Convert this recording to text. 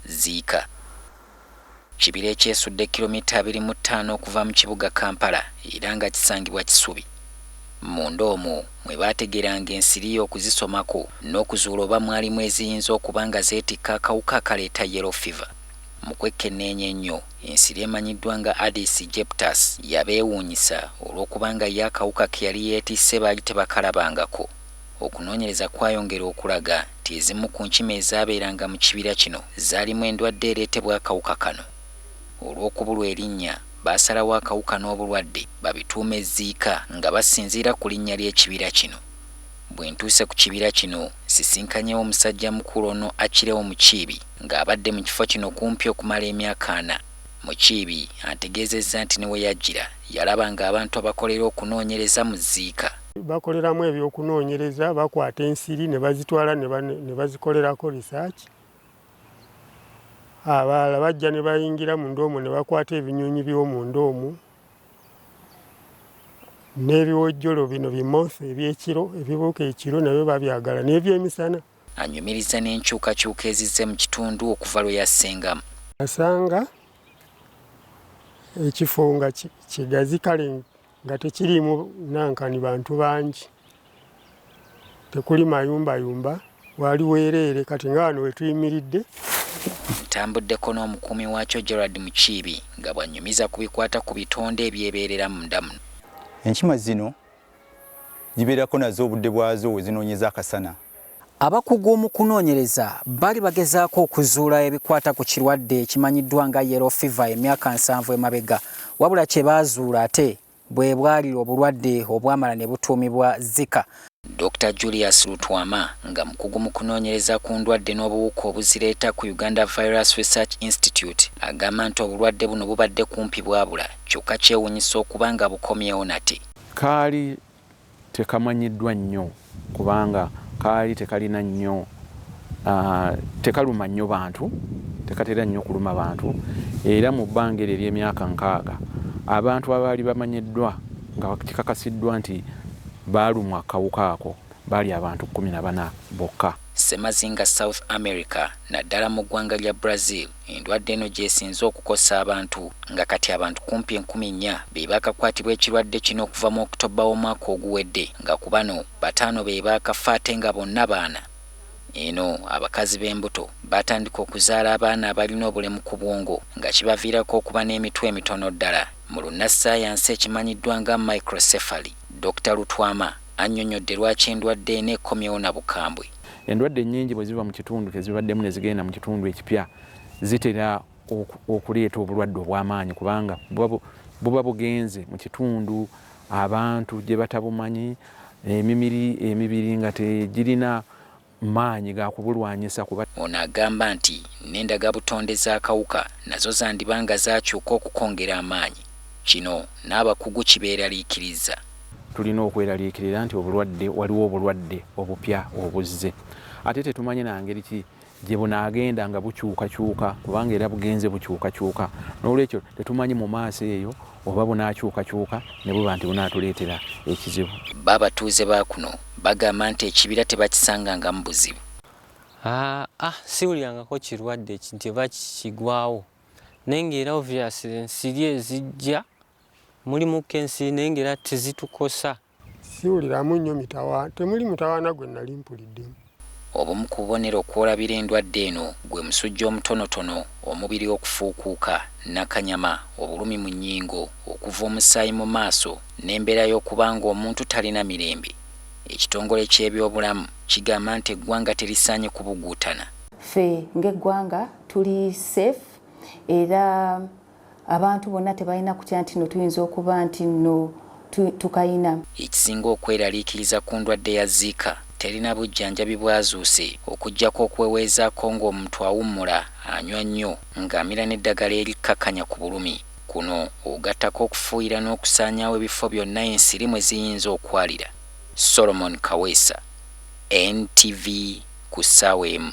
Ziika. Kibira ekyesudde kkilommita abiri mu ttaano okuva mu kibuga Kampala era nga kisangibwa Kisubi. Munda omwo mwe baategeranga ensiri okuzisomako n'okuzuula oba mwalimu eziyinza okuba nga zeetikka akawuka akaleeta Yellow Fever. Mu kwekkenneenya ennyo, ensiri emanyiddwa nga Aedes aegyptus yabeewuunyisa olw'okuba nga yo akawuka ke yali yeetisse baali tebakalabangako. Okunoonyereza kwayongera okulaga nti ezimu ku nkima ezaabeeranga mu kibira kino zaalimu endwadde ereetebwa akawuka kano. Olw'okubulwa erinnya, baasalawo akawuka n'obulwadde babituume Zziika nga basinziira ku linnya ly'ekibira kino. Bwe ntuuse ku kibira kino, nsisinkanyewo omusajjamukulu ono Achileo Mukiibi ng'abadde mu kifo kino kumpi okumala emyaka ana. Mukiibi antegeezezza nti ne we yajjira yalaba ng'abantu abakolera okunoonyereza mu Zziika Bakoleramu eby'okunoonyereza, bakwata ensiri ne bazitwala ne bazikolerako research. Abalala bajja ne bayingira munda omwo ne bakwata ebinyonyi by'omunda omwo n'ebiwojjolo bino bi moth eby'ekiro ebibuuka ekiro nabyo babyagala n'ebyemisana. Anyumiriza n'enkyukakyuka ezizze mu kitundu okuva lwe yassenga. Nasanga ekifo nga kigazi kale nga tekiriimu nankani bantu bangi tekuli mayumbayumba waali weereere kati nga wano wetuyimiridde ntambuddeko n'omukuumi waakyo Gerald Mukiibi nga bw'annyumiza ku bikwata ku bitonde ebyebeerera munda muno. Enkima zino zibeerako nazo obudde bwazo we zinoonyeza akasana. Abakugu mu kunoonyereza baali bagezaako okuzuula ebikwata ku kirwadde ekimanyiddwa nga Yellow Fever emyaka nsanvu emabega, wabula kye baazuula ate bwe bwali obulwadde obwamala ne butuumibwa Zika. Dokita Julius Lutwama nga mukugu mu kunoonyereza ku ndwadde n'obuwuka obuzireeta ku Uganda Virus Research Institute agamba nti obulwadde buno bubadde kumpi bwabula kyokka kyewuunyisa okuba nga bukomyewo nate. Kaali tekamanyiddwa nnyo kubanga kaali tekalina nnyo tekaluma nnyo bantu tekatera nnyo kuluma bantu era mu bbanga eryo ery'emyaka nkaaga abantu abaali bamanyiddwa nga kikakasiddwa nti baalumwa kawuka ako baali abantu kkumi na bana bokka. Ssemazinga South America naddala mu ggwanga lya Brazil Endwadde eno gyesinze okukosa abantu nga kati abantu kumpi enkumi nnya beebakakwatibwa ekirwadde kino okuva mu October w'omwaka oguwedde nga ku bano bataano beebakafa ate nga bonna baana. Eno abakazi b'embuto batandika okuzaala abaana abalina obulemu ku bwongo nga kibaviirako okuba n'emitwe emitono ddala mu lunnassaayansi ekimanyiddwa nga microcephaly. Dokita Lutwama annyonyodde lwaki endwadde eno ekomyewo na bukambwe. Endwadde nnyingi bwe ziva mu kitundu kye zibaddemu ne zigenda mu kitundu ekipya zitera okuleeta obulwadde obw'amaanyi kubanga buba bugenze mu kitundu abantu gye batabumanyi emimiri emibiri nga tegirina maanyi ga kubulwanyisa kuba ono agamba nti n'endagabutonde z'akawuka nazo zandiba nga zaakyuka okukongera amaanyi kino n'abakugu kibeeraliikiriza. Tulina okweraliikirira nti obulwadde waliwo obulwadde obupya obuzze ate tetumanyi na ngeri ki gye bunaagenda nga bukyukakyuka kubanga era bugenze bukyukakyuka n'olwekyo tetumanyi mu maaso eyo oba bunaakyukakyuka ne buba nti bunaatuleetera ekizibu. Bo abatuuze ba kuno bagamba nti ekibira tebakisangangamu buzibu. Haa siwulirangako kirwadde nti oba kigwawo naye ng'era obviously ensiri ezijja Mulimu kensi naye ng'era tezitukosa. Siwuliramu nnyo mitawa temuli mutawaana gwe nnali mpuliddemu. Obumu ku bubonero kw'olabira endwadde eno gwe musujja omutonotono, omubiri okufuukuuka, nnakanyama, obulumi mu nnyingo, okuva omusaayi mu maaso n'embeera y'okuba ng'omuntu talina mirembe. Ekitongole ky'ebyobulamu kigamba nti eggwanga terisaanye kubuguutana. Ffe ng'eggwanga tuli safe era. abantu bonna tebalina kutya nti no tuyinza okuba nti no tukayina. Ekisinga okweraliikiriza ku ndwadde ya Zika terina bujjanjabi bwazuuse okuggyako okuweweezaako ng'omuntu awummula, anywa nnyo, ng'amira n'eddagala erikkakkanya ku bulumi. Kuno ogattako okufuuyira n'okusaanyaawo ebifo byonna ensiri mwe ziyinza okwalira. Solomon Kaweesa, NTV, ku ssaawa emu.